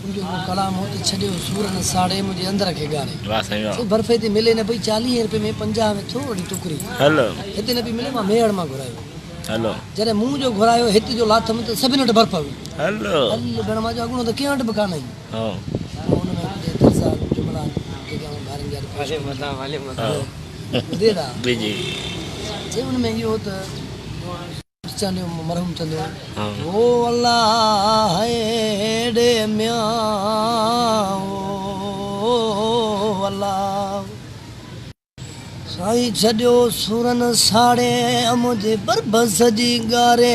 تنهنجو ڪو ڪلام هو ته ڇڏيو سور نه ساڙي منهنجي اندر کي ڳاري سو برفي تي ملي نه پئي چاليهين رپين ۾ پنجاهه ۾ ٿورڙي ٽڪري هتي نه پئي ملي مان ميهڙ مان گهرايو جڏهن مون جو گهرايو هت جو لاٿم ته سڀني وٽ برف هئي هل ڏڻ مان جو اڳوڻو ته ڪنهن وٽ به ڪانه هئي تون ان ۾ ٻڌي ترسا جملا آهن جيڪي آئون ڀارين جي آڏو پيش ڪندو آهيان چي ان ۾ اهو ته مرحوم چندو وو الله هيڏي ميان وو الله سائين ڇڏيو سورن ساڙي منهنجي بربس جي ڳاري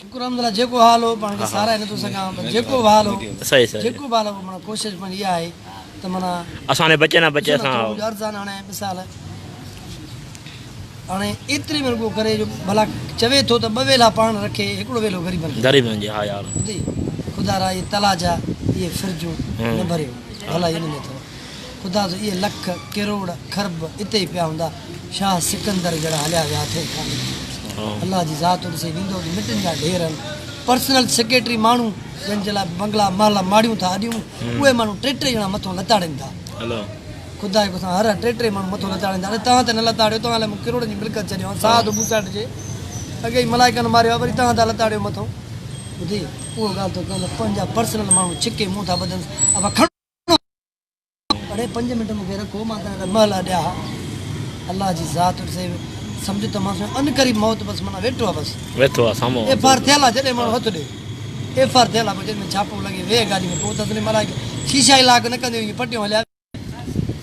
شڪر الحمدالله جيڪو حال هو پاڻ کي ساراهي نٿو سگهان پر جيڪو به حال هو جيڪو به حال هو معنيٰ ڪوشش پنهنجي اها آهي ته معنيٰ اسان ڏي بچي نه بچي اسان ٿورو ڪجهه عرض آهن هاڻي مثال هاڻي ايتري به رڳو ڪري جو ڀلا چوي ٿو ته ٻه ويلا پاڻ رکي هڪڙو ويلو غريبن کي غريبن جي ها يار ٻڌي خدا را اهي تلاء جا اهي فرجون نه ڀريو ڀلا اهي نه ٿورا خدا جو اهي لک، ڪروڙ، کرب اتي ئي پيا هوندا، شاهه سڪندر جهڙا هليا ويا اٿئي ڪانه. الله جي ذات هن سين ويندو ته مٽن جا ڍير هن پرسنل سيڪريٽري ماڻهو جن جي لاء بنگلا محلا ماڙيون ٿا اڏيون اهي ماڻهو ٽي ٽي ڄڻا مٿو لتاڙين ٿا. خدا جي قسم هر هر ٽي ٽي ماڻهو مٿو لتاڙين ٿا. اڙي توهان ته نه لتاڙيو توهان الائي مون ڪروڙن جي ملڪيت ڇڏيو هان ساهه ته بوساٽ جي اڳي ئي ملائڪن ماريو آهي وري توهان ٿا لتاڙيو مٿو. ٻڌي اهو ڳالهه ٿو ڪيان ته پنهنجا پرسنل ماڻهو ڇڪي منهن ٿا ٻڌنس اها کڻ. اڙي پنج منٽ مون کي رکو مان تنهن لاء ٻه لاء ڏيا ها الله جي ذات ڏسي سمجهه ته مان سوين انقريب موت بس منا ويٺو آ بس ويٺو آ سامو ايف آر ٿيل آ جڏهن ماڻهو هٿ ڏي ايف آر ٿيل آ پوء جڏهن ڇاپو لڳي ويهه گاڏي ۾ پوء ته تنهن ملائڪ شيشا ئي لاڪ نه ڪنديون ائين پٽيون هليا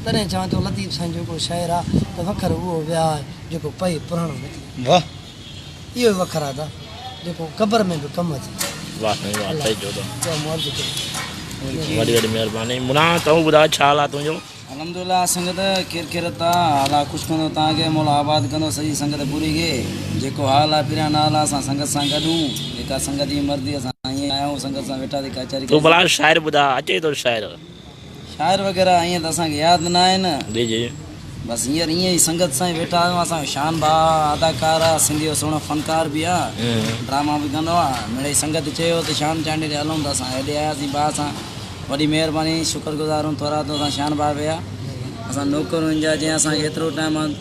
تڏهن چوان ٿو لطيف سائين جو ڪو شاعر آ ته وکر اهو ويا آ جيڪو پئي پراڻو نه ٿئي واه اهو وکر آ دا جيڪو قبر ۾ به ڪم اچي ٿو. واھ سائين واھ سائين جودا وڏي وڏي مھرباني منا تون ٻڌاء ڇا حال آ تنھنجو. الحمدلله سنگت خير خيرت آ حال آ خوش ڪندو تان کي مولا آباد ڪندو سڄي سنگت پوري کي جيڪو حال آ پھريان نال آ اسان سنگت سان گڏ ھون جيڪا سنگت جي مرضي اسان ائين آيا ھون سنگت سان ويٺاسي ڪچھري ڪئي سي. تون ڀلا شاعر ٻڌاء اچي ٿو شاعر. شاعر وغيره ائين ته اسان کي ياد نه آهن. جي جي. بس هينئر ائين ئي سنگت سان ئي ويٺا آهيون. اسان جو شان ڀاء اداڪار آهي، سنڌيء جو سهڻو فنڪار به آهي، ڊراما به ڪندو آهي. مڙيئي سنگت چيو ته شان چانڊيي ڏي هلون ته اسان هيڏي آياسين ڀاء سان وڏي مهرباني شڪر گذار هون ٿورا ته اسان شان ڀاء ويا اسان نوڪرون هن جا جنهن اسان کي ايترو ٽائيم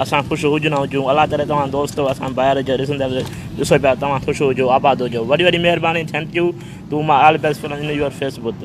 اسان خوش هجون نه هجون الله ڪري توهان دوستو اسان ڀائر کي ڏسندڙ ڏسو پيا توهان خوش هجو آباد هجو وڏي وڏي مهرباني thank you to my all best friend in your fee بوت.